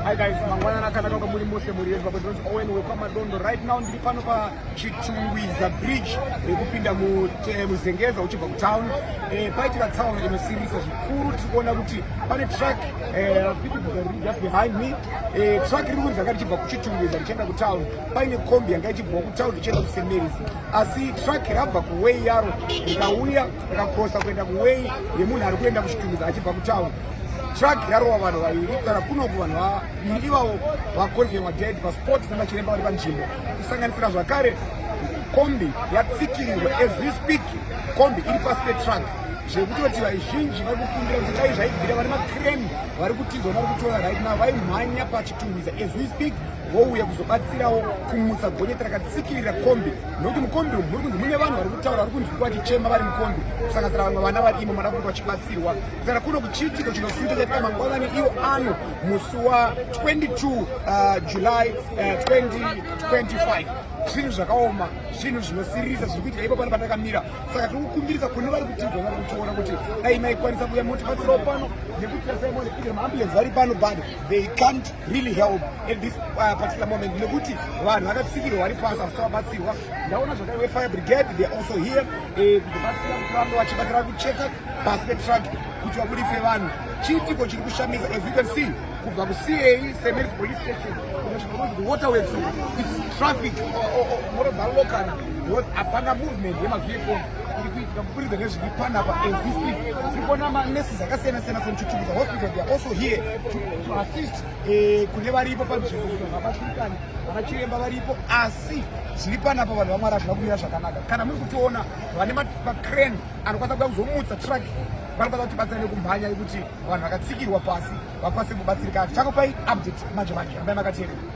Hi guys, mangwanana akanaka kwamuri mose muri yesu baba ndinonzi Owen wekwaMadondo. Right now ndiri pano pachitungwiza bridge rekupinda eh, muzengeza uchibva kutown. Eh, paitika town inosirisa zvikuru tiri kuona kuti pane truck eh, just behind me. Eh, truck riri kunzi anga richibva kuchitungwiza richienda kutown. Paine kombi yanga ichibva kutown richienda kuSemeris. Asi truck rabva kuway yaro rikauya rakakrosa kuenda kuway yemunhu ari kuenda kuchitungwiza achibva kutown. Truck yarowa vanhu vaviri kana kunoku vanhu vaviri ivavo vakonfirmwa dead paspot nemachiremba vari panzvimbo kusanganisira zvakare kombi yatsikirirwa as we speak kombi iri pasi petruck zvekutoti vaizhinji vari kukumbira kuti dai zvaibvira vari makreni vari kutizwa vari kutora right now vaimhanya pachitungwiza as we speak vouya kuzobatsirawo kumutsa gonyeti rakatsikirira kombi nokuti mukombi umu muri kunzi mune vanhu vari kutaura vari kunzi kuvachichema vari mukombi kusanganisira vamwe vana vari imo mada kuti vachibatsirwa kana kuno kuchiitiko chinosuita chaita mangwanani iwo ano musi wa 22 uh, july uh, 2025 zvinhu zvakaoma zvinhu zvinosirisa zviri kuitika ipo pano patakamira saka tiri kukumbirisa kune vari kutibva vari kutiona kuti dai maikwanisa kuya motibatsirawo pano nekuti tasaimoneia maambulensi vari pano but they can't really help at this uh, particular moment nekuti vanhu vakatsikirwa vari pasi asi tavabatsirwa ndaona zvakaiwe fire brigade they also here eh, kuzobatsira kuti vange vachibatsira kucheka pasi petruck kuti vabuditse vanhu chiitiko chiri kushamisa as you can see kubva kucei semer police station waterworks its traffic moto dzalokana because hapana movement yemavehicle iri kuitika kuburidza nezviri panapa existing tiri kuona maneses akasiyana siyana from chitukuza hospital they are also here to assist eh, kune varipo panzvimbo kuti vanhu vabatsirikane vanachiremba varipo asi zviri panapa vanhu vamwari hazvina kumira zvakanaka kana muri kutiona vane macrane anokwanisa kuda kuzomutsa truck vanokwanisa kuti batsirane kumhanya yekuti vanhu vakatsikirwa pasi vakwanise kubatsirikana chakopai update manje manje ambai makateerera